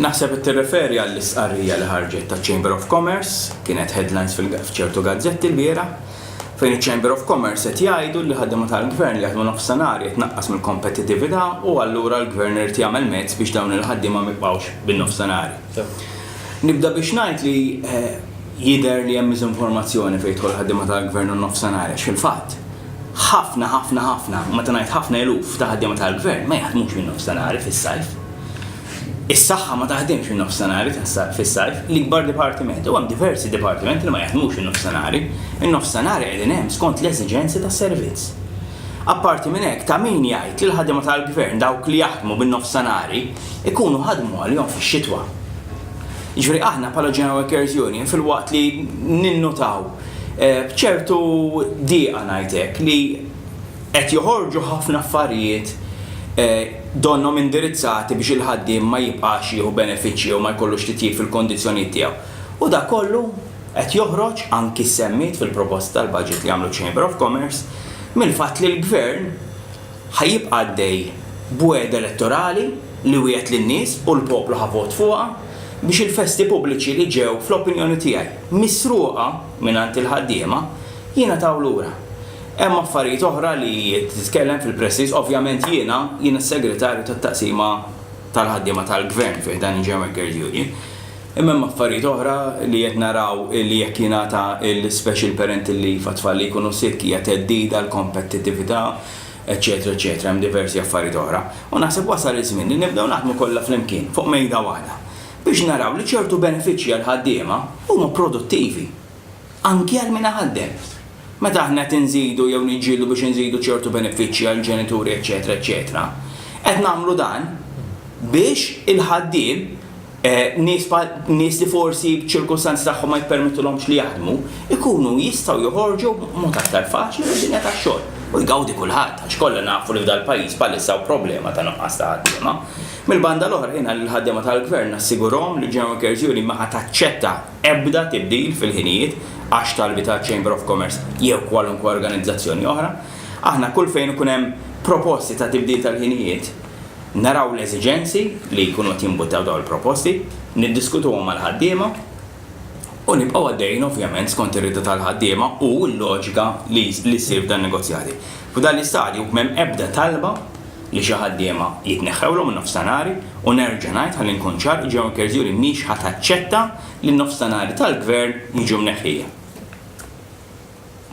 Naħseb qed tirreferi għall-istqarrija li ħarġet taċ-Chamber of Commerce, kienet headlines f'ċertu gazzetti lbieraħ, fejn iċ-Chamber of Commerce qed jgħidu li ħaddiema tal-Gvern li jaħdmu nofsinhar qed tnaqqas mill-kompetittività u allura l-Gvern irid jagħmel mezz biex dawn il-ħaddiema ma jibqgħux bin-nofsinhari. Nibda biex ngħid li jidher li hemm miżinformazzjoni fejn jidħol ħaddiema tal-Gvern u n-nofsinhari għax fil-fatt, Ħafna, ħafna, ħafna, u meta ngħid ħafna eluf ta' ħaddiema tal-Gvern ma jaħdmux min-nofstanhar fis-sajf. Is-Saħħa ma taħdimx min-nofstanhar fis-sajf, l-ikbar dipartiment, u hemm diversi dipartimenti li ma jaħdmux in-nofstanhar. In-nofstanhar qegħdin hemm skont l-eżiġenzi tas-servizz. Apparti minn hekk, ta' min jgħid li l-ħaddiema tal-Gvern, dawk li jaħdmu bin-nofstanhar, ikunu ħadmu għalihom fix-xitwa. Jiġifieri aħna bħala General Workers' Union filwaqt li ninnutaw, B'ċertu diqa ngħid hekk li qed joħorġu ħafna affarijiet donnhom indirizzati biex il-ħaddiem ma jibqax jieħu benefiċċji jew ma jkollux titjib fil-kondizzjonijiet tiegħu. U dak kollu qed joħroġ, anki ssemmiet fil-proposta tal-budget li għamlu ċ-Chamber of Commerce, mill-fatt li l-Gvern, Ħa jibqa' għaddej b'wegħda elettorali li wiegħed lin-nies u l-poplu ħa vot fuqha biex il-festi pubbliċi li ġew, fl-opinjoni tiegħi, misruqa mingħand il-ħaddiema, jingħataw lura. Hemm affarijiet oħra li titkellem fil-press-ris, ovvjament jiena, jiena s-Segretarju tat-Taqsima tal-Ħaddiema tal-Gvern fi ħdan il-German Girls Union, Imma hemm affarijiet oħra li qed naraw li jekk jingħata l-special parental leave għat-tfal li jkunu sick hija theddid għall-kompettitività, eċċetera eċċetera hemm diversi affarijiet oħra. U naħseb wasal iż-żmien li nibdew naħdmu kollha flimkien fuq mejda waħda biex naraw li ċertu benefiċċji għall-ħaddiema huma produttivi. anki għal min iħaddem. Meta aħna qed inżidu jew niġġieldu biex inżidu ċertu benefiċċji għall-ġenituri eċċetera eċċetera, qed nagħmlu dan biex il-ħaddiem, nies bħal, nies li forsi ċ-ċirkustanzi tagħhom ma jippermettulhomx li jaħdmu, ikunu jistgħu joħorġu b'mod aktar faċli mid-dinja tax-xogħol. U jgawdi kulħadd, għax kollha nafu li f'dal-pajjiż bħalissa hawn problema ta' nuqqas ta' ħaddiema. Mill-banda l-oħra jiena lill-ħaddiema tal-Gvern nassigurhom li General Cares Union ma ħa taċċetta, ebda tibdil fil-ħinijiet għax talbi ta' Chamber of Commerce jew kwalunkwe organizzazzjoni oħra. Aħna kull fejn ikun hemm proposti ta' tibdil tal-ħinijiet, naraw l-eżiġenzi li jkunu qed jimbuttaw dawn il-proposti, niddiskutuhom mal-ħaddiema u nibqgħu għaddejjin ovvjament skont ir-rieda tal-ħaddiema u l-loġika li ssir f'dan in-negozjati. F'dan l-istadju m'hemm ebda talba li xi ħaddiema jitneħħewlhom in-nofstanari u nerġa' ngħid ħalli nkun ċar, il-Ġirmanja Kierzjuri mhix ħa taċċetta li n-nofstanari tal-Gvern jiġu mneħħija.